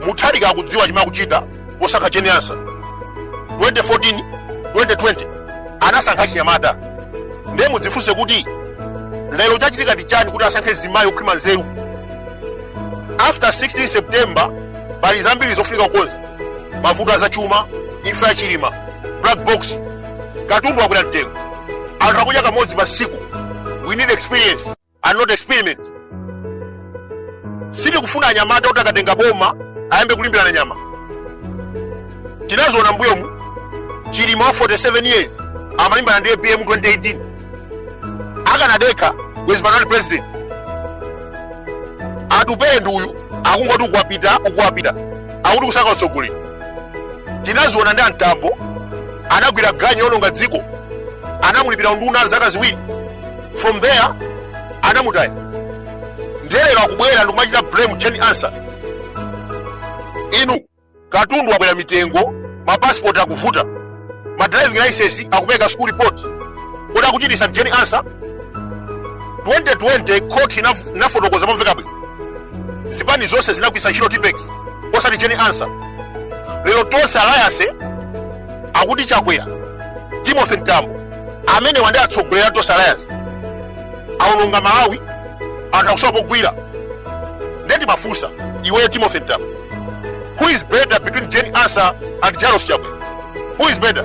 mutharika akudziwa chimene akuchita posankha jane ansah 2014 2020 anasankha chinyamata ndiye mudzifunse kuti lero chachitika ndi chani kuti asankhe mzimayi okhwima nzeru after 16 september pali zambiri zofunika kukonza mavuto azachuma imfa ya chilima black box katundu wakwera mtengo anthu akudya kamodzi pa siku we need experience and not experiment sitikufuna anyamata kuti akatenga boma ayambe kulimbirana nyama tinaziona mbuyomu chilima wa 47 years amalimbana ndi apm 2018 akanadekha bwezi panali president atupele ndi uyu akungoti uku wapita uku wapita akuti kusaka utsogoleri tinaziona ndi a mtambo anagwira ganyu yononga dziko anamulipira unduna zaka ziwiri from there anamutaya ndiye lero akubwera ndikumachita blame jane ansah inu katundu wakwera mitengo mapasipoti akuvuta ma driving license akupeka school report kodi akuchitisa jane ansah 2020 court inaf- inafotokoza momveka bwino zipani zonse zinagwiritsa ntchito tipex osati jane ansah lero tonse alliance akuti chakwera timothy mtambo amenewa ndi atsogoleri a tonse alliance aononga malawi anthu akusowa pogwira nde timafunsa iweyo timothy mtambo who is better between jane ansah and lazarus chakwera who is better